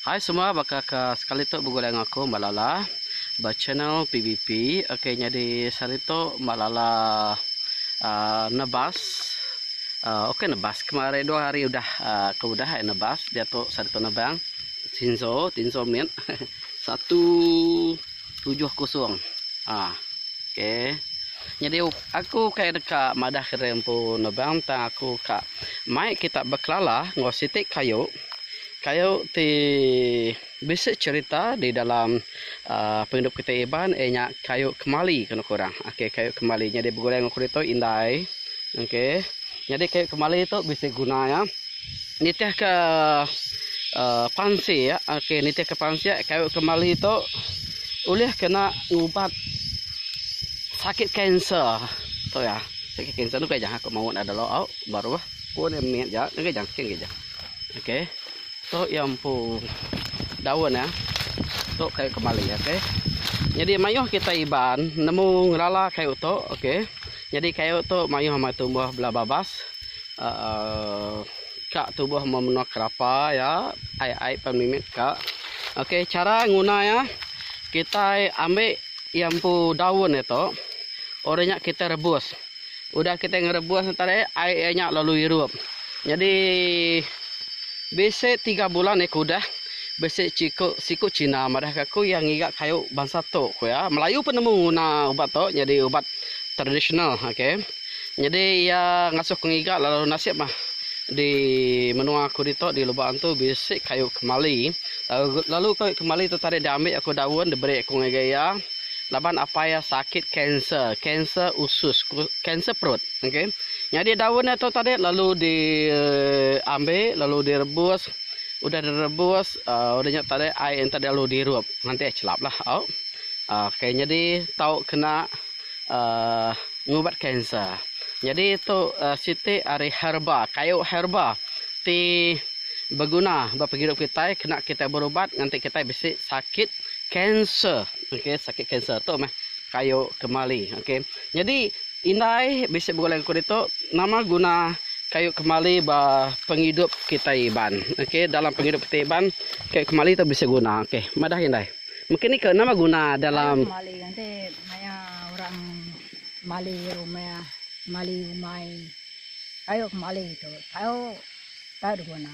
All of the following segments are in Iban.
Hai semua baka ke sekali tu begulai enggau aku Mbak Lala ba channel PBP ok nyadi sehari tu Mbak Lala uhh nebas uhh ok nebas kemari dua hari udah aku udah ai nebas diatu sehari tu nebang Tinzo Tinzo mit satu tujuh kosong uhh ok nyadi aku kai deka madah kira empu nebang tang aku ka mai kita bekelala enggau siti kayu Kayu ti bisi cerita di dalam pengidup kitai Iban iya nya kayu kemali ke nuku orang okay kayu kemali nyadi begulai ngan kudi tu indai okay nyadi kayu kemali tu bisi guna iya nitih ka pansik okay nitih ka pansik kayu kemali tu ulih kena ngubat sakit kanser tu iya sakit kanser nukai jah aku mawu nda ada lauk baruh pun mih ja nukai jah kin gija. Okey. Tu ia empu daun ya. Tu kayu kemali okey. Jadi mayuh kita Iban nemu ngerala kayu tu okey. Jadi kayu tu mayuh meh tumbuh bela babas. Uh, ka tumbuh meh menua kerapa ya. Ai-ai pan mimit ka. Okey, cara nguna ya. Kita ambil ia empu daun dia tu. Orang nya kita rebus. Udah kitai ngerebus nya tadi, ai iya nya lalu irup. Nyadi bisi tiga bulan iya ke udah, bisi chiku siku China madahka aku iya ngiga kayu bansa tu ku iya. Melayu pun nemu nguna ubat tu nyadi ubat tradisional okey. Nyadi iya ngasuh aku ngiga lalu nasib mah di menua aku ditu di Lubak Antu bisi kayu kemali. Lalu kayu kemali tu tadi diambi aku daun diberi aku ngagai iya. laban apai iya sakit kanser, kanser usus, kanser perut ok nyadi daun iya tu tadi lalu di ambil lalu di rebus udah di rebus udah nya tadi ai yen tadi lalu di rup nganti ai chelap lah au ok nyadi tau kena ngubat kanser nyadi tu siti ari herba kayu herba ti beguna ba penghidup kitai kena kitai berubat nganti kitai bisi sakit kanser. Okey sakit kanser tu meh kayu kemali okey nyadi indai bisi begulai ngaku ditu nama guna kayu kemali ba pengidup kitai Iban okey dalam pengidup kitai Iban kayu kemali tu bisi guna okey madah indai mungkin iko nama guna dalam. Kayu kemali enti maya orang mali rumah mali umai kayu kemali tu tau tau diguna.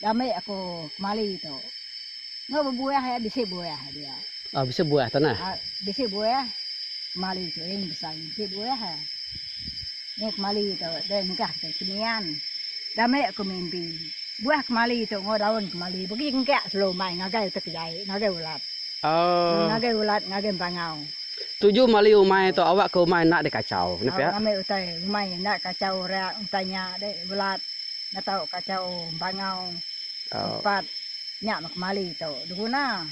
Diambi aku kemali tu. Enggau bebuah iya bisi buah dia. Oh bisi buah tu nah. Ah bisi buah kemali tu ing besai bisi buah ah. Nya kemali tu deh nengkah ke kemian. Diambi aku mimpi buah kemali tu enggau daun kemali pegi engkak selalu mai ngagai utai ke jai ngagai ulat. Oh. Ngagai ulat ngagai empangau. Tuju mali umai tu awak ke umai enda dikachau. Nya pia. Awak ngambi utai umai enda dikachau orang utai nya deh ulat. ngetau kacau bangau tempat nya meh kemali tu diguna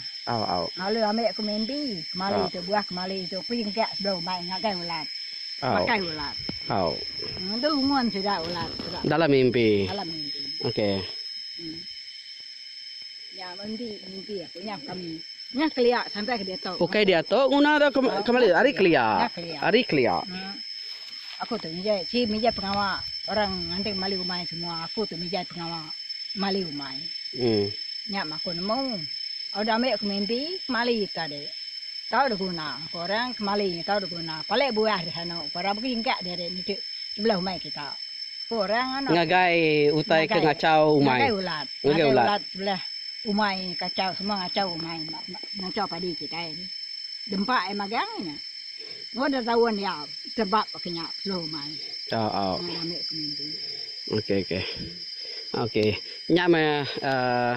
lalu ambi aku mimpi kemali tu buah kemali tu pin gak sebelum mai ngagai ulat makai ulat ngendu umon sida ulat dalam mimpi. Nya ngendi mimpi aku nya kami. Nya kelia sampai ke diatu. Ukai diatu nguna tu ke mali ari kelia. Ari kelia. Aku tu mija si mija pengawa orang nganting mali umai semua aku tu mija pengawa mali umai. Nya mah aku nemu. Au dame aku mimpi mali tadi. Tau da guna ko orang ke mali nya tau da guna. Pale buah di sana ko orang bagi engka diri niti sebelah umai kita. Ko orang ngagai utai ke ngachau umai. Ngagai ulat. Nadai ulat sebelah umai kacau semua ngacau umai ngacau padi kitai ni. Dempa ai magang nya. Engau dah taun iya tebap baka nya peseluh umai. Nya dah ambi penganti. Okey okey. Okey. Nya meh uhh.